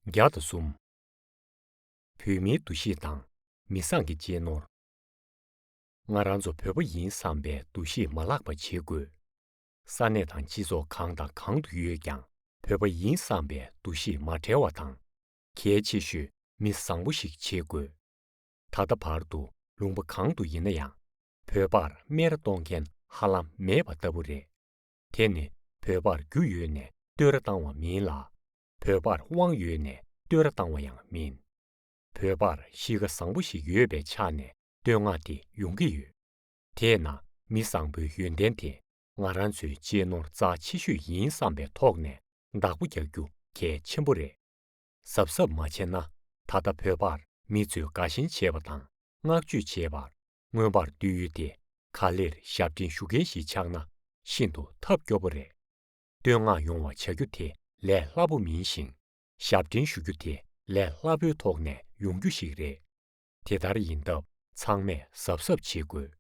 བརྒྱ་དང་གསུམ། བོད་མིའི་འདུ་ཤེས་དང་མི་བཟང་གི་གཅེས་ནོར། ང་རང་ཚོ་བོད་པ་ཡིན་བསམ་པའི་འདུ་ཤེས་མ་བརླག་པ་བྱེད་དགོས། ས་གནས་དང་སྤྱི་ཚོགས་གང་དང་གང་དུ་ཡོད་ཀྱང་བོད་པ་ཡིན་བསམ་པའི་འདུ་ཤེས་མ་བྲལ་བ་དང། གལ་ཆེ་ཤོས་མི་བཟང་པོ་ཞིག་བྱེད་དགོས། ད་ལྟ་བར་དུ་ལུང་པ་གང་དུ་ཡིན་ན་ཡང་བོད་པར་སྨད་ར་གཏོང་མཁན་ཧ་ལམ་མེད་པ་ལྟ་བུ་རེད། དེ་ནི་བོད་པར་རྒྱུ་ཡོད་ནས་བསྟོད་ར་བཏང་བ་མིན་ལ། བོད་པར་དབང་ཡོད་ནས་བསྟོད་ར་བཏང་བ་ཡང་མིན། བོད་པར་གཤིས་ཀ་བཟང་པོ་ཞིག་ཡོད་པའི་ཆ་ནས་བསྟོད་བསྔགས་དེ་ཡོང་གི་ཡོད། དེས་ན་མི་བཟང་པོའི་ཡོན་ཏན་དེ་ང་རང་ཚོའི་གཅེས་ནོར་རྩ་ཆེ་ཤོས་ཡིན་བསམ་པའི་ཐོག་ནས་བདག་པོ་རྒྱག་རྒྱུ་གལ་ཆེན་པོ་རེད། གཟབ་གཟབ་མ་བྱས་ན་ད་ལྟ་བོད་པར་མི་ཚོས་དགའ་ཞེན་བྱེད་པ་དང་བསྔགས་བརྗོད་བྱེད་པར་མངོན་པར་འདོད་ཡུལ་དེ་ག་ལེར་ཞབས་འདྲེན་ཞུ་མཁན་ཞིག་ཆགས་ན་ཤིན་ཏུ་ཐབས་སྐྱོ་པོ་རེད། བསྟོད་བསྔགས་ཡོང་བ་བྱ་རྒྱུ་དེ་ལས་སླ་པོ་མིན་ཞིང། ཞབས་འདྲེན་ཞུ་རྒྱུ་དེ་ལས་སླ་པོའི་ཐོག་ནས་ཡོང་རྒྱུ་ཞིག་རེད། དེ་ལྟར་ཡིན་སྟབས་ཚང་མས་གཟབ་གཟབ་བྱེད་དགོས།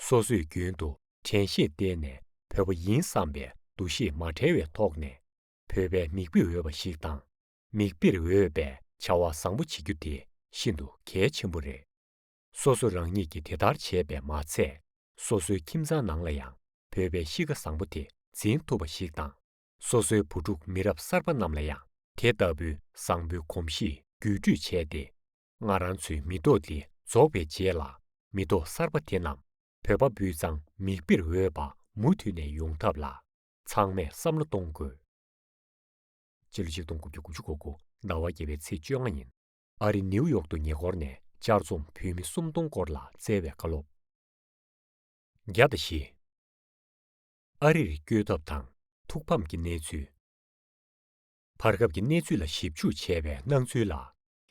སོ་སོས་རྒྱུན་དུ་དྲན་ཤེས་བརྟེན་ནས་བོད་པ་ཡིན་བསམ་པའི་འདུ་ཤེས་མ་བྲལ་བའི་ཐོག་ནས། བོད་པའི་མིག་དཔེ་འོས་པ་ཞིག་དང་མིག་དཔེར་འོས་པའི་བྱ་བ་བཟང་པོ་བྱེད་རྒྱུ་དེ་ཤིན་ཏུ་གལ་ཆེན་པོ་རེད། སོ་སོ་རང་ཉིད་ཀྱིས་དེ་ལྟར་བྱས་པས་མ་ཚད་སོ་སོའི་ཁྱིམ་ཚང་ནང་ལ་ཡང་བོད་པའི་གཤིས་ཀ་བཟང་པོ་དེ་འཛིན་ཐུབ་པ་ཞིག་དང་སོ་སོའི་བུ་ཕྲུག་མི་རབས་གསར་པ་རྣམས་ལ་ཡང་དེ་ལྟ་བུའི་བཟང་པོའི་གོམས་གཤིས་བརྒྱུད་སྤྲོད་བྱས་ཏེ། སྔར་རང་ཚོའི་མི་ཐོག་འདི་རྫོགས་པའི་རྗེས་ལ་མི་ཐོག་གསར་པ་དེ་རྣམས་བོད་པ་སྤུས་གཙང་མིག་དཔེར་འོས་པ་མུ་མཐུད་ནས་ཡོང་ཐབས་ལ་ཚང་མས་བསམ་བློ་གཏོང་དགོས། སྤྱི་ལོ་ཆིག་སྟོང་དགུ་བརྒྱ་དགུ་བཅུ་གོ་དགུ་ཟླ་བ་བརྒྱད་པའི་ཚེས་བཅོ་ལྔ་ཉིན་ཨ་རི་ནེའུ་ཡོག་ཏུ་ཉེ་འཁོར་ནས་བཅར་རྩོམ་བོད་མི་སུམ་སྟོང་སྐོར་ལ་བསྩལ་བའི་བཀའ་སློབ། བརྒྱ་དང་བཞི། ཨ་རིར་བསྐྱོད་ཐབས་དང་ཐུགས་ཕམ་གྱི་གནས་ཚུལ། བར་སྐབས་ཀྱི་གནས་ཚུལ་ལ་ཞིབ་འཇུག་བྱས་པའི་སྣང་ཚུལ་ལ་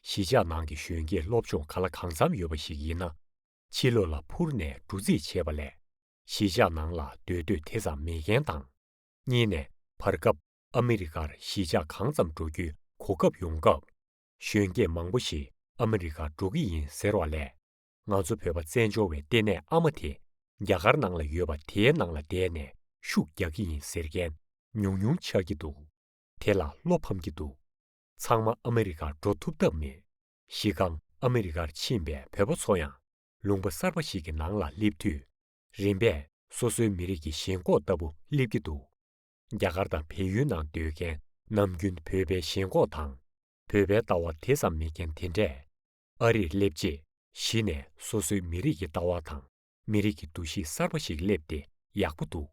གཞིས་ཆགས་ནང་གི་གཞོན་སྐྱེས་སློབ་སྦྱོང་ག་ལ་གང་འཚམ་ཡོད་པ་ཞིག་ཡིན་ན་ཕྱི་ལོགས་ལ་འཕུར་ནས་འབྲུ་རྩིས་བྱེད་པ་ལས་གཞིས་ཆགས་ནང་ལ་སྡོད་འདོད་དེ་ཙམ་མེད་མཁན་དང། གཉིས་ནས་བར་སྐབས་ཨ་མི་རི་ཀར་གཞིས་ཆགས་གང་ཙམ་འགྲོ་རྒྱུའི་གོ་སྐབས་ཡོང་སྐབས། གཞོན་སྐྱེས་མང་པོ་ཞིག་ཨ་མི་རི་ཀར་འགྲོ་གི་ཡིན་ཟེར་བ་ལས། ང་ཚོ་བོད་པ་བཙན་བྱོལ་བའི་ལྟེ་གནས་ཨ་མ་དེ་རྒྱ་གར་ནང་ལ་ཡོད་པ་དེའི་ནང་ལ་བསྡད་ནས་ཤུགས་རྒྱག་གི་ཡིན་ཟེར་མཁན་ཉུང་ཉུང་ཆགས་ཀྱི་འདུག་དེ་ལ་བློ་ཕམ་གྱི་འདུག་ཚང་མ་ཨ་མི་རི་ཀར་འགྲོ་ཐུབ་ཐབས་མེད། གཞི་རྐང་ཨ་མི་རི་ཀར་ཕྱིན་པའི་བོད་པ་ཚོ་ཡང་ལུང་པ་གསར་པ་ཞིག་གི་ནང་ལ་སླེབས་དུས། རིམ་པས་སོ་སོའི་མི་རིགས་ཀྱི་ཞེན་ཁོག་ལྟ་བུ་སླེབས་ཀྱི་འདུག་རྒྱ་གར་དང་བལ་ཡུལ་ནང་སྡོད་མཁན་ནམ་རྒྱུན་བོད་པའི་ཞེན་ཁོག་དང། བོད་པའི་ལྟ་བ་དེ་ཙམ་མེད་མཁན་དེ་འདྲས། ཨ་རིར་སླེབས་རྗེས་གཞི་ནས་སོ་སོའི་མི་རིགས་ཀྱི་ལྟ་བ་དང་མི་རིགས་ཀྱི་འདུ་ཤེས་གསར་པ་ཞིག་སླེབས་ཏེ་ཡག་པོ་འདུག་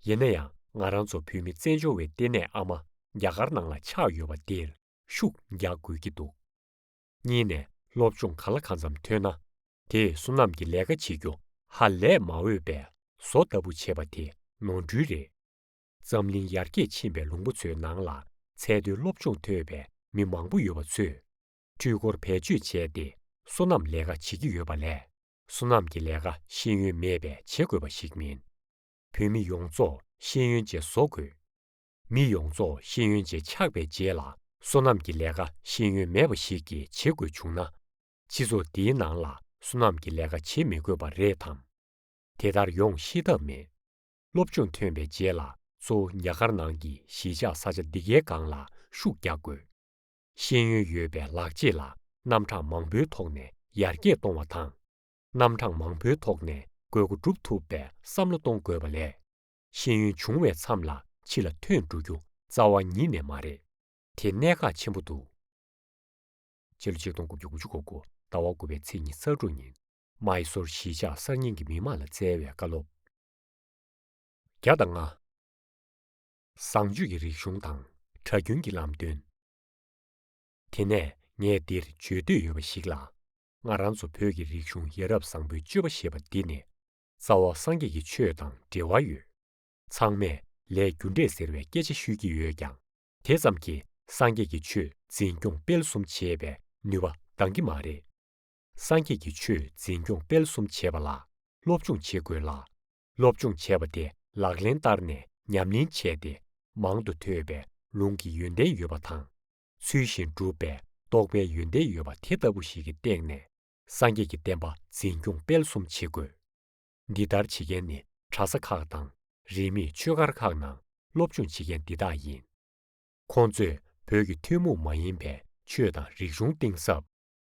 ཡིན་ན་ཡང་ང་རང་ཚོ་བོད་མི་བཙན་བྱོལ་བའི་ལྟེ་གནས་ཨ་མ་རྒྱ་གར་ནང་ལ་ཆགས་ཡོད་པ་འདིར་ཤུགས་རྒྱག་དགོས་ཀྱི་འདུག། གཉིས་ནས་སློབ་སྦྱོང་ག་ལ་གང་འཚམ་ཐོན་ན་དེས་བསོད་ནམས་ཀྱི་ལས་ཀ་བྱེད་རྒྱུ་ཧ་ལས་མ་འོས་པས་བཟོ་ལྟ་བུ་བྱེད་པ་དེ་ནོར་འཁྲུལ་རེད། འཛམ་གླིང་ཡར་རྒྱས་ཕྱིན་པའི་ལུང་པ་ཚོའི་ནང་ལ་ཚད་མཐོའི་སློབ་སྦྱོང་ཐོས་པའི་མི་མང་པོ་ཡོད་པ་ཚོས་འཕྲུལ་འཁོར་བེད་སྤྱོད་བྱས་ཏེ་བསོད་ནམས་ལས་ཀ་བྱེད་ཀྱི་ཡོད་པ་ལས་བསོད་ནམས་ཀྱི་ལས་ཀ་ཤེས་ཡོན་མེད་པས་བྱེད་དགོས་པ་ཞིག་མིན། བོད་མི་ཡོངས་རྫོགས་ཤེས་ཡོན་ཅན་བཟོ་དགོས། མི་ཡོངས་རྫོགས་ཤེས་ཡོན་ཅན་ཆགས་པའི་རྗེས་ལ་སོ་ནམ་གྱི་ལས་ཀ་ཤེས་ཡོན་མེད་པ་ཞིག་གིས་བྱེད་དགོས་བྱུང་ན། སྤྱི་ཚོགས་འདིའི་ནང་ལ་སོ་ནམ་གྱི་ལས་ཀ་བྱེད་མི་དགོས་པ་རེད་དམ། དེ་ལྟར་ཡོང་ཤེས་ཐབས་མེད། སློབ་སྦྱོང་ཐོན་པའི་རྗེས་ལ་གཙོ་བོ་ཉག་དཀར་ནང་གི་གཞིས་ཆགས་ས་ཆ་འདི་གའི་སྒང་ལ་ཤུགས་རྒྱག་དགོས། ཤེས་ཡོན་ཡོད་པའི་ལག་རྗེས་ལ་རྣམ་གྲངས་མང་པོའི་ཐོག་ནས་ཡར་རྒྱས་གཏོང་བ་དང། རྣམ་གྲངས་མང་པོའི་ཐོག་ནས་དགོས་མཁོ་སྒྲུབ་ཐུབ་པའི་བསམ་བློ་གཏོང་དགོས་པ་ལས། ཤེས་ཡོན་བྱུང་བའི་མཚམས་ལ་ཕྱི་ལ་ཐོན་འགྲོ་རྒྱུ་རྩ་བ་ཉིད་ནས་མ་རེད། དེ་གནད་འགག་ཆེན་པོ་འདུག། ཕྱི་ལོ་ཆིག་སྟོང་དགུ་བརྒྱ་དགུ་ཅུ་གོ་གོ་ཟླ་བ་དགུ་པའི་ཚེས་གཉིས་གསར་འགྲོ་ཉིན། མཱི་སོར་གཞིས་ཆགས་གསར་རྙིང་གི་མི་དམངས་ལ་སྩལ་བའི་བཀའ་སློབ། བརྒྱ་དང་ལྔ། བཟང་སྤྱོད་ཀྱི་རིག་གཞུང་དང་གྲྭ་རྒྱུན་གྱི་ལམ་སྟོན། དེ་ནས་ངས་འདིར་བརྗོད་འདོད་ཡོད་པ་ཞིག་ལ། ང་རང་ཚོ་བོད་ཀྱི་རིག་གཞུང་ཡ་རབས་བཟང་པོའི་སྤྱོད་པ་ཞེས་པ་འདི་ནི། རྩ་བ་སངས་རྒྱས་ཀྱི་ཆོས་དང་འབྲེལ་བ་ཡོད། ཚང་མས་ལས་རྒྱུ་འབྲས་ཟེར་བའི་སྐད་ཆ་ཤོད་ཀྱི་ཡོད་ཀྱང་དེ་ཙམ་གྱིས་སངས་རྒྱས་ཀྱི་ཆོས་འཛིན་སྐྱོང་སྤེལ་གསུམ་བྱེད་པའི་ནུས་པ་འདང་གི་མ་རེད། སངས་རྒྱས་ཀྱི་ཆོས་འཛིན་སྐྱོང་སྤེལ་གསུམ་བྱེད་པ་ལ་སློབ་སྦྱོང་བྱེད་དགོས་ལ། སློབ་སྦྱོང་བྱས་པ་དེ་ལག་ལེན་བསྟར་ནས་ཉམས་ལེན་བྱས་ཏེ་མང་དུ་ཐོས་པའི་ལུང་གི་ཡོན་ཏན་ཡོད་པ་དང། ཚུལ་བཞིན་བསྒྲུབས་པས་རྟོགས་པའི་ཡོན་ཏན་ཡོད་པ་དེ་ལྟ་བུ་ཞིག་གི་སྟེང་ནས་སངས་རྒྱས་ཀྱི་བསྟན་པ་འཛིན་སྐྱོང་སྤེལ་གསུམ་བྱེད་དགོས། འདི་ལྟར་བྱེད་མཁན་ནི་གྲྭ་ས་ཁག་དང་རིས་མེད་ཆོས་སྒར་ཁག་ནང་སློབ་སྦྱོང་བྱེད་མཁན་འདི་དག་ཡིན། ཁོང་ཚོས་བོད་ཀྱི་ཐུན་མོང་མ་ཡིན་པའི་ཆོས་དང་རིག་གཞུང་གཏིང་ཟབ།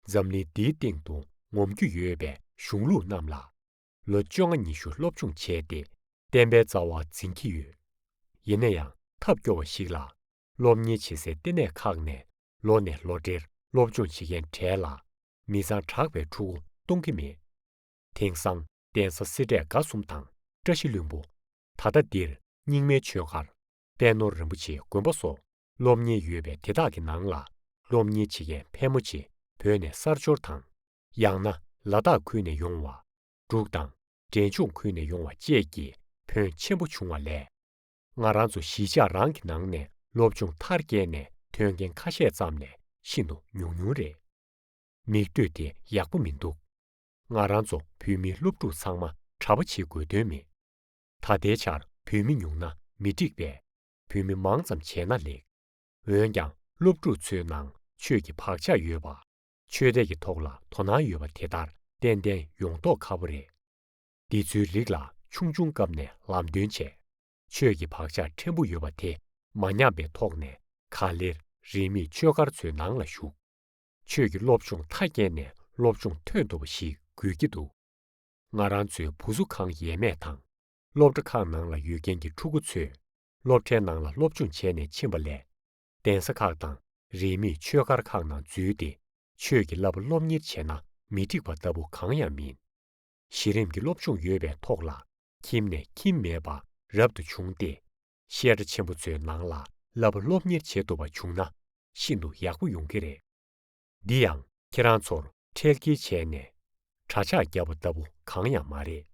འཛམ་གླིང་འདིའི་སྟེང་དུ་ངོམ་རྒྱུ་ཡོད་པའི་གཞུང་ལུགས་རྣམས་ལ། ལོ་བཅོ་ལྔ་ཉི་ཤུ་སློབ་སྦྱོང་བྱས་ཏེ་བསྟན་པའི་རྩ་བ་འཛིན་གྱི་ཡོད། ཡིན་ན་ཡང་ཐབས་སྐྱོ་བ་ཞིག་ལ། སློབ་གཉེར་བྱེད་སའི་ལྟེ་གནས་ཁག་ནས་ལོ་ནས་ལོ་བགྲེས་སློབ་སྦྱོང་བྱེད་མཁན་གྲས་ལ་མི་ཚང་གྲགས་པའི་ཕྲུ་གུ་གཏོང་གི་མེད། དེང་སང་གདན་ས་སེ་འབྲས་དགའ་གསུམ་དང་བཀྲ་ཤིས་ལྷུན་པོ། ད་ལྟ་འདིར་རྙིང་མའི་ཆོས་སྒར། དཔལ་ནོར་རིན་པོ་ཆེའི་དགོན་པ་སོགས་སློབ་གཉེར་ཡོད་པའི་དེ་དག་གི་ནང་ལ་སློབ་གཉེར་བྱེད་མཁན་ཕལ་མོ་ཆེ་བོད་ནས་གསར་འབྱོར་དང། ཡང་ན་ལ་དྭགས་ཁུལ་ནས་ཡོང་བ། འབྲུག་དང་འབྲས་ལྗོངས་ཁུལ་ནས་ཡོང་བ་བཅས་ཀྱི་ཕོན་ཆེན་པོ་བྱུང་བ་ལས། ང་རང་ཚོ་གཞིས་ཆགས་རང་གི་ནང་ནས་སློབ་སྦྱོང་མཐར་བསྐྱལ་ནས་ཐོན་མཁན་ཁ་ཤས་ཙམ་ལས་ཤིན་ཏུ་ཉུང་ཉུང་རེད། མིག་ལྟོས་དེ་ཡག་པོ་མི་འདུག་ང་རང་ཚོ་བོད་མི་སློབ་ཕྲུག་ཚང་མ་གྲྭ་པ་བྱེད་དགོས་དོན་མེད། ད་ལྟའི་ཆར་བོད་མི་ཉུང་ན་མི་འགྲིག་པས་བོད་མི་མང་ཙམ་བྱས་ན་ལེགས། འོན་ཀྱང་སློབ་ཕྲུག་ཚོའི་ནང་ཆོས་ཀྱི་བག་ཆགས་ཡོད་པ། ཆོས་དད་ཀྱི་ཐོག་ལ་དོ་སྣང་ཡོད་པ་དེ་ལྟར་ཏན་ཏན་ཡོང་མདོག་ཁ་པོ་རེད། འདི་ཚོའི་རིགས་ལ་ཆུང་ཆུང་སྐབས་ནས་ལམ་སྟོན་བྱས། ཆོས་ཀྱི་བག་ཆགས་ཕྲན་བུ་ཡོད་པ་དེ་མ་ཉམས་པའི་ཐོག་ནས་ག་ལེར་རིས་མེད་ཆོས་སྒར་ཚོའི་ནང་ལ་ཞུགས། ཆོས་ཀྱི་སློབ་སྦྱོང་མཐའ་བསྐྱལ་ནས་སློབ་སྦྱོང་ཐོན་ཐུབ་པ་ཞིག་དགོས་ཀྱི་འདུག་ང་རང་ཚོའི་བུ་གཟུགས་ཁང་ཡས་མས་དང། སློབ་གྲྭ་ཁག་ནང་ལ་ཡོད་མཁན་གྱི་ཕྲུ་གུ་ཚོས་སློབ་གྲྭའི་ནང་ལ་སློབ་སྦྱོང་བྱས་ནས་ཕྱིན་པ་ལས། གདན་ས་ཁག་དང་རིས་མེད་ཆོས་སྒར་ཁག་ནང་འཛུལ་ཏེ་ཆོས་ཀྱི་བསླབ་པ་སློབ་གཉེར་བྱས་ན་མི་འགྲིག་པ་ལྟ་བུ་གང་ཡང་མིན། གཞི་རིམ་གྱི་སློབ་སྦྱོང་ཡོད་པའི་ཐོག་ལ་ཁྱིམ་ནས་ཁྱིམ་མེད་པ་རབ་ཏུ་བྱུང་སྟེ། བཤད་གྲྭ་ཆེན་པོ་ཚོའི་ནང་ལ་བསླབ་པ་སློབ་གཉེར་བྱེད་ཐུབ་པ་བྱུང་ན་ཤིན་ཏུ་ཡག་པོ་ཡོང་གི་རེད། འདི་ཡང་ཁྱེད་རང་ཚོར་ཁྲེལ་དཀྱེལ་བྱས་ནས་གྲྭ་ཆག་བརྒྱབ་པ་ལྟ་བུ་གང་ཡང་མ་རེད།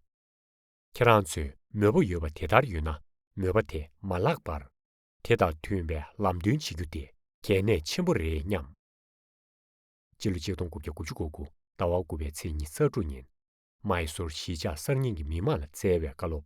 ཁྱེད་རང་ཚོས་མོས་པ་ཡོད་པ་དེ་ལྟར་ཡོད་ན་མོས་པ་དེ་མ་བརླག་པར། དེ་དང་མཐུན་པའི་ལམ་སྟོན་བྱེད་རྒྱུ་དེ་གལ་གནད་ཆེན་པོ་རེད་སྙམ། སྤྱི་ལོ་ཆིག་སྟོང་དགུ་བརྒྱ་དགུ་ཅུ་གོ་དགུ་ཟླ་བ་དགུ་པའི་ཚེས་ཉི་ཚར་དྲུག་ཉིན། མཱི་སུར་གཞིས་ཆགས་གསར་རྙིང་གི་མི་དམངས་ལ་བསྩལ་བའི་བཀའ་སློབ།